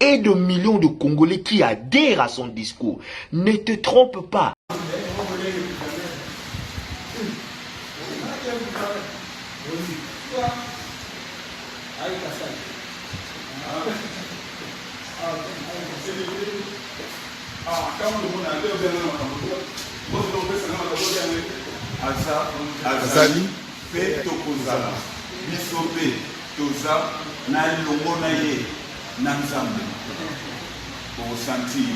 et de millions de Congolais qui adhèrent à son discours. Ne te trompe pas. azali mpe tokozala biso mpe toza na elongo na ye na nzambe au sentir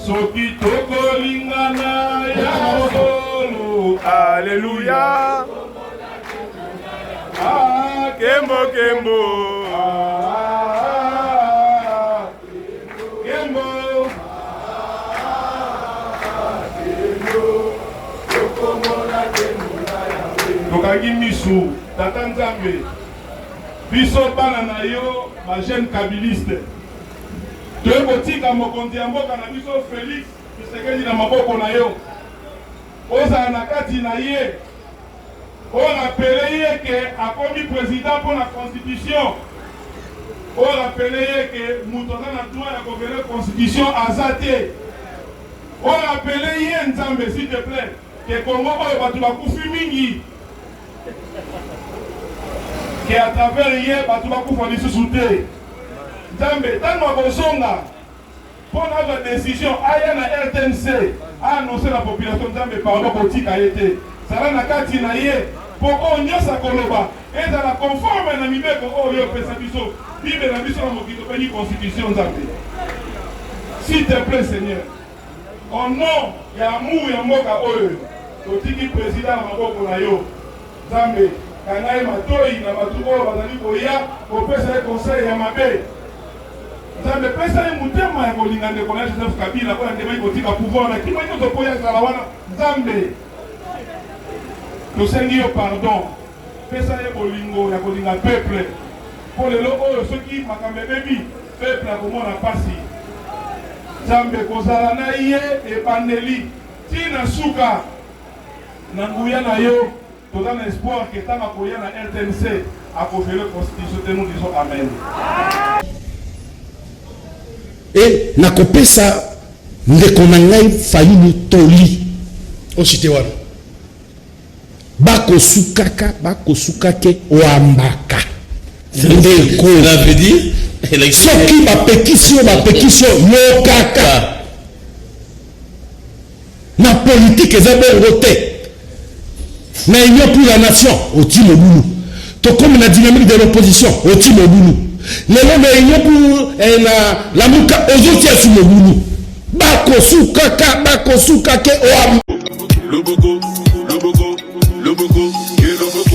soki tokolingana ya solo aleluya ah, kembo kembo tokangi misu tata nzambe biso bana na yo bajeune kabiliste toye kotika mokonzi ya mboka na biso felix kisekeli na maboko na yo ozala na kati na ye Oyo rappeler ye que akomi president mpo na constitution. Oyo rappeler ye que mutu aza na droit ya ko violer constitution aza te. Oyo rappeler ye Nzambe s'il te plait que Congo oyo batu bakufi mingi que à travers ye batu bakufa lisusu te. Nzambe tango akozonga. Mpo nazwa decision aya na rtnc a annoncer na population Nzambe pardon kotika ye te zala na kati na ye mpo oyo nionso akoloba ezala conforme na mibeko oyo yo opesa biso bible na biso na mokili tobengi constitution Nzambe s'il te plait seigneur au nom ya amour ya mboka oyo totiki president na maboko na yo. Nzambe, kanga ye matoyi na batu oyo bazali koya kopesa ye conseil ya mabe. Nzambe, pesa ye motema ya kolinga ndeko na ye Joseph Kabila oyo andimaki kotika pouvoir na kima nyoso po ye azala wana. Nzambe, tosengi yo pardon, pesa ye bolingo ya kolinga peuple po lelo oyo soki makambo ebebi peuple akomona pasi. Nzambe, kozala na ye ebandeli ti na suka. Na nguya na yo toza na espoir que tango akoya na rtnc ako violer constitution te nous disons amen. et nakopesa ndeko na ngai fayulu toli osite wana bakosukaka bakosuka te wambaka ndeko soki bapekisi yo bapekisi yo yokaka Na politique eza bongo te. Na union pour la nation otie mobulu. Tokomi na dynamique de l'opposition otie mobulu. Lelo na union pour eh, na lamuka ozotia su mobulu. Bakosuka ka bakosuka ke oam. Loboko, loboko, loboko, ye loboko.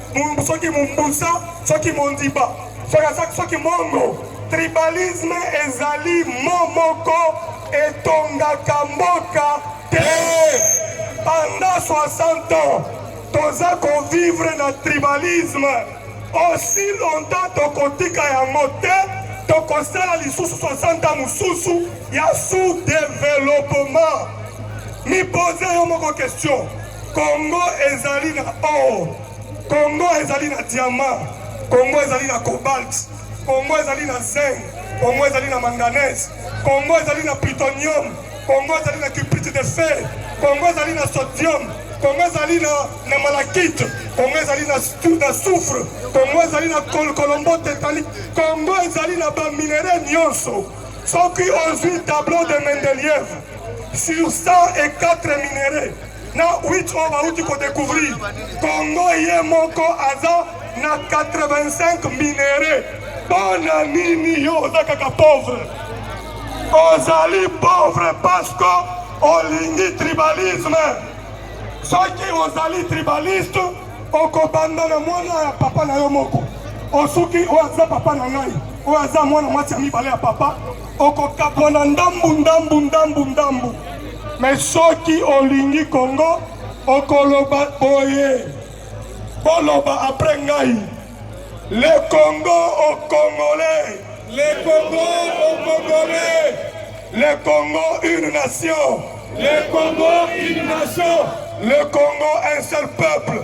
soki mumbusa soki mondiba soki soki mongo tribalisme ezali mo moko etongaka mboka te pendant 60 ans toza kovivre na tribalisme aussi longtemps tokotika yango te tokosala lisusu 60 ans mosusu ya sous-développement mipose yo moko question Congo ezali na or, Congo ezali na diamant, Congo ezali na cobalt, Congo ezali na zinc, Congo ezali na manganese, Congo ezali na plutonium, Congo ezali na cuprite de fer, Congo ezali na sodium, Congo ezali na, na malachite, Congo ezali na, na soufre, Congo ezali na col colombo tetanique, Congo ezali na ba minerais nyonso. Soki ozwi tableau de Mendeleev sur 104 minerais na 8 oyo bauti ko découvrir Congo ye moko aza na 85 minerais pona nini yo oza kaka pauvre ozali pauvre parce que olingi tribalisme soki ozali tribaliste okobanda na mwana ya papa na yo moko osuki oyo aza papa na ngai oyo aza mwana mwasi ya mibale ya papa okokabwana ndambu ndambu ndambu ndambu Mais soki olingi Congo okoloba boye boloba après ngai le Congo au Congolais le Congo au Congolais le Congo une nation le Congo une nation le Congo un seul peuple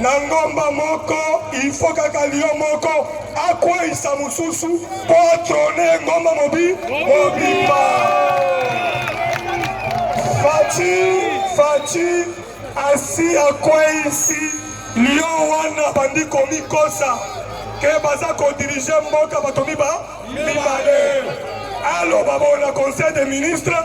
na ngomba moko ilfo kaka lio moko akweisa mosusu mpo atrone ngomba mobi mobimba faci faci asi akweisi lio wana bandi komikosa ke baza kodirige mboka bato miba mibale aloba bona conseil des ministres